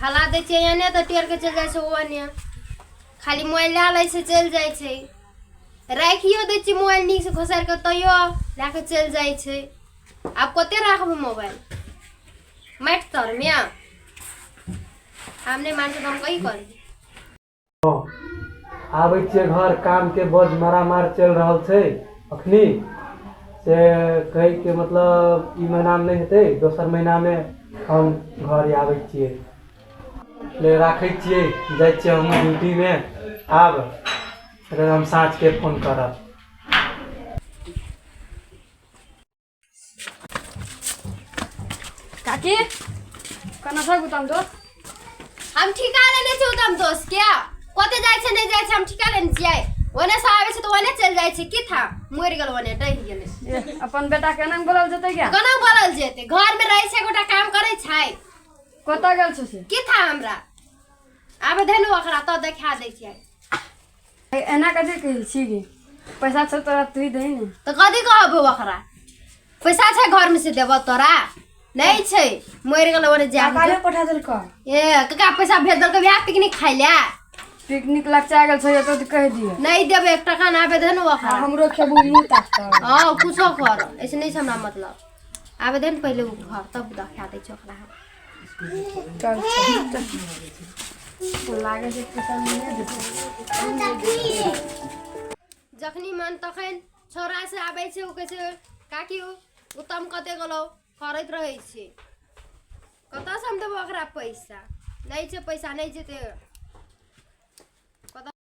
हला दै छियै एने तऽ टेर के चलि जाइ छै ओने खाली मोबाइल लए लै छै चलि जाइ छै राखियो दै छियै मोबाइल नीकसँ घोसारि कऽ तैयो लए कऽ चलि जाइ छै आब कते राखबै मोबाइल माटि तरमे आब नहि मानतै तऽ हम कही करबै आबै छियै घर कामके बड़ मारामार चलि रहल छै अखनी से कहैके मतलब ई महीनामे नहि हेतै दोसर महीनामे हम घर आबै छियै ले राखै छियै जाइ छियै हम ड्यूटीमे आब फेर हम साँझके फोन करब काकी कना था गुताम दोस्त हम ठिका लेने से उतम दोस्त क्या कोते जाय छे नहीं जाय छे हम ठिका लेने छियै ओने से आवे छे तो ओने चल जाय छे की था मर गेल ओने डहि गेल ए, अपन बेटा के नाम बोलल जतै क्या कोना बोलल जेते घर में रहे छे गोटा काम करे छै कतऽ गेल छौ से की था हमरा आबे धेनु ओकरा तो देखा दै छियै एना कथी कहै छी गे पैसा छौ तोरा तू दे ने तो कथी कहबो ओकरा पैसा छै घर में से देबो तोरा नहीं छै मर गेल ओरे जा काकाले पठा देल का ए कका पैसा भेज देलको बियाह पिकनिक खाइ ले पिकनिक लचा गेल छौ तो कह दिए नहीं देबो एक टका ना आबे दे ने ओकरा हमरो खेबू मुंह ताकता हां कुछो कर ऐसे नहीं छै हमरा मतलब आबे दे ने पहिले उ घर तब देखा दै छै ओकरा हम। चल लागे जे पैसा मिले देतै जखनी मन तखन छौरा से आबै छै ओ कहै छै काकी ओ उत्तम कते गेलौ करैत रहै छै कतऽ से हम देबो ओकरा पैसा नहि छै पैसा नहि छै तऽ